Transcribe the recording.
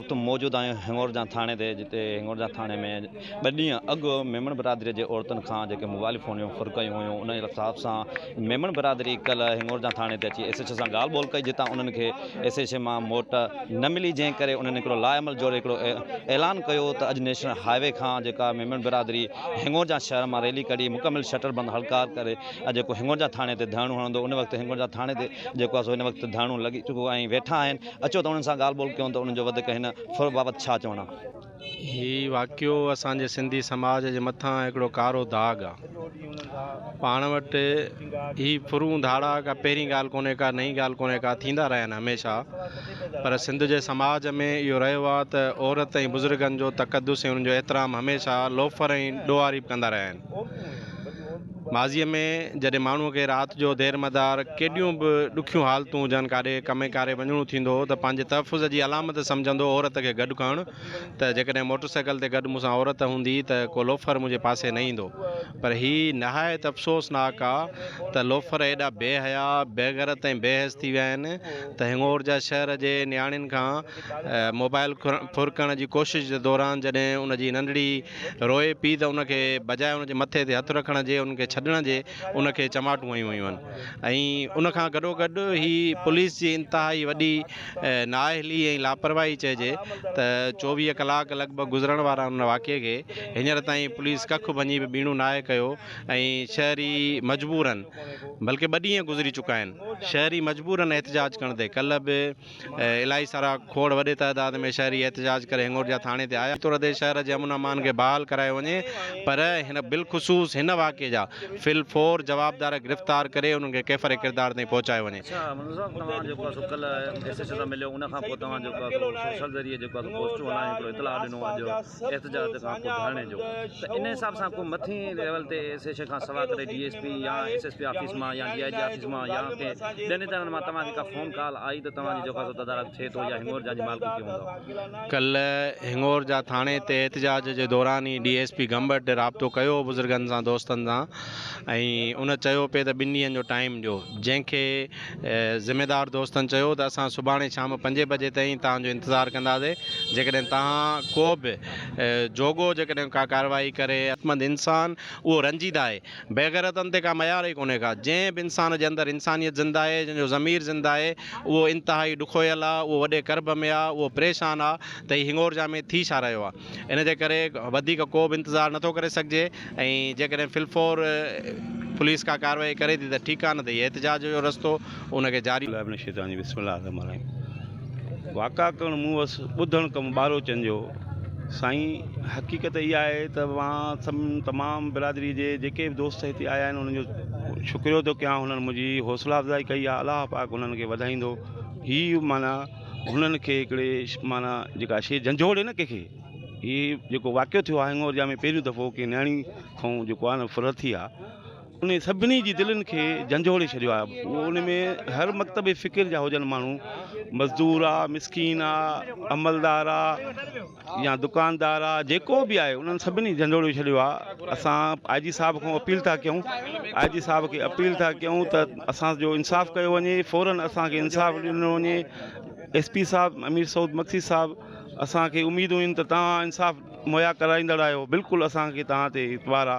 وقت موجود آهيون هنڱورجان ٿاڻي تي جتي هنڱورجان ٿاڻي ۾ ٻه ڏينهن اڳ ميمڻ برادري جي عورتن کان جيڪي موبائل فون جون فرڪيون هيون ان جي حساب سان ميمڻ برادري ڪل هنڱورجان ٿاڻي تي اچي ايس ايچ او سان ڳالهه ٻولهه ڪئي جتان انهن کي ايس ايچ او مان موٽ نه ملي جنهن ڪري انهن هڪڙو لا عمل جوڙي هڪڙو اعلان ڪيو ته اڄ نيشنل هاء وي کان جيڪا ميمڻ برادري هنڱورجان شهر مان ريلي ڪڍي مڪمل شٽر بند هڙتال ڪري اڄ جيڪو هنڱورجان ٿاڻي تي ڌرڻو هڻندو ان وقت هنڱورجان ٿاڻي تي جيڪو آهي سو هن وقت ڌرڻو لڳي چڪو ۽ ويٺا آهن اچو ته انهن سان ڳالهه ٻولهه ڪيون ته انهن جو وڌيڪ هن ڦر بابت ڇا چوڻ آهي. هي واقعو اسان جي سنڌي سماج جي مٿان هڪڙو ڪارو داغ آ. پاڻ وٽ هي ڦرون ڌاڙا ڪا پهرين ڳالهه ڪونهي ڪا نئين ڳالهه ڪونهي ڪا ٿيندا رهيا آهن هميشه پر سنڌ جي سماج ۾ اهو رهيو آ ته عورت ۽ بزرگن جو تقدس ۽ انهن جو احترام هميشه لوفر ۽ ڏوهاريب ڪندا رهيا آهن. ماضيء ۾ جڏهن ماڻهوء کي رات جو دير مدار ڪيڏيون به ڏکيون حالتون هجن ڪاڏي ڪمي ڪاري وڃڻو ٿيندو هو ته پنهنجي تحفظ جي علامت سمجهندو هو عورت کي گڏ ڪرڻ ته جيڪڏهن موٽر سائيڪل تي گڏ مون سان عورت هوندي ته ڪو لوفر منهنجي پاسي نه ايندو پر هي نهايت افسوسناڪ آ ته لوفر ايڏا بي حيا، بيغرت ۽ بي حيس ٿي ويا آهن ته هڱور جا شهر جي نياڻين کان موبائل ڦرڪڻ جي ڪوشش جي دوران جڏهن ان جي ننڍڙي روئي پئي ته ان کي بجاء ان جي مٿي تي هٿ رکڻ جي ان کي ڇڏڻ جي ان کي چماٽون هنيون ويون آهن ۽ ان کان گڏو گڏ هي پوليس جي انتهائي وڏي نااهلي ۽ لاپرواهي چئجي ته چوويهه ڪلاڪ لڳ ڀڳ گذرڻ وارا ان واقعي کي هينئر تائين پوليس ڪک ڀڃي به ٻيڻو ناهي ڪيو ۽ شهري مجبورن بلڪه ٻه ڏينهن گذري چڪا آهن شهري مجبورن احتجاج ڪندي ڪلهه به الائي سارا کوڙ وڏي تعداد ۾ شهري احتجاج ڪري هڱور جا ٿاڻي تي آيا. طور تي شهر جي امن امان کي بحال ڪرايو وڃي پر هن بالخصوص هن واقعي جا في الفور جوابدار گرفتار ڪري انهن کي ڪيفر ڪردار تائين پهچايو وڃي. اڇا منظور صاحب توهان جيڪو آهي سو ڪلهه ايس ايڇ او سان مليو ان کان پوء توهان جيڪو آهي سو سوشل ذريعي جيڪو آهي سو پوسٽون هلائي هڪڙو اطلاع ڏنو آهي جو احتجاج کان پوء ڌرڻي جو ته ان حساب سان ڪو مٿين ليول تي سيشن کان سوا ڪري ڊي ايس پي يا ايس ايس پي آفيس مان يا ڊي آء جي آفيس مان يا ڪنهن ٻين ادارن مان توهان کي ڪا فون ڪال آئي ته توهان جي جوکا جو تدارڪ ٿئي ٿو يا هنڱور جان جي مالڪي ڪيون هوندو. ڪلهه هنڱور جان ٿاڻي تي احتجاج جي دوران ئي ڊي ايس پي گمبٽ رابطو ڪيو هو بزرگن سان دوستن سان ۽ ان چيو پئي ته ٻن ڏينهن جو ٽائيم ڏيو جنهن کي ذميدار دوستن چيو ته اسان سڀاڻي شام پنجين بجي تائين توهان جو انتظار ڪنداسي جيڪڏهن توهان ڪو به جوڳو جيڪڏهن ڪا ڪارروائي ڪري. عقلمند انسان اهو رنجيده آهي. بيغيرتن تي ڪا ميار ئي ڪونهي ڪا. جنهن به انسان جي اندر انسانيت زنده آهي، جنهن جو ضمير زنده آهي، اهو انتهائي ڏکويل آ، اهو وڏي ڪرب ۾ آ، اهو پريشان آ ته هي هڱورجا ۾ ٿي ڇا رهيو آ. ان جي ڪري وڌيڪ ڪو به انتظار نٿو ڪري سگهجي ۽ جيڪڏهن في الفور پوليس ڪا ڪارروائي ڪري ٿي ته ٺيڪ آهي نه ته هي احتجاج جو رستو ان کي جاري بالله من الشيطان الرجيم بسم الله الرحمن الرحيم واقعا ڪرڻ مون وس ٻڌڻ ڪم ٻاروچن جو سائين حقيقت اها آهي ته مان سم تمام برادري جي جيڪي به دوست هتي آيا آهن انهن جو شڪريو ٿو ڪيان هنن منهنجي حوصلا افزائي ڪئي آهي الله پاڪ انهن کي وڌائيندو هي معنيٰ هنن کي هڪڙي معنيٰ جيڪا شيء جنجهوڙي نه ڪنهن کي هي جيڪو واقعو ٿيو آهي هڱورجا ۾ پهريون دفعو ڪنهن نياڻي کان جيڪو آهي نه ڦرت ٿي آهي ان سڀني جي دلين کي جنجهوڙي ڇڏيو آهي اهو ان ۾ هر مڪتب فڪر جا هجن ماڻهو مزدور آهي مسڪين آهي عملدار آهي يا دڪاندار آ جيڪو به آهي انهن سڀني جهنجهوڙيو ڇڏيو آ اسان آء جي صاحب کان اپيل ٿا ڪيون آء جي صاحب کي اپيل ٿا ڪيون ته اسان جو انصاف ڪيو وڃي فورن اسان کي انصاف ڏنو وڃي ايس پي صاحب امير سعود مگسي صاحب اسان کي اميدون آهن ته توهان انصاف مهيا ڪرائيندڙ آهيو بلڪل اسان کي توهان تي اعتبار آ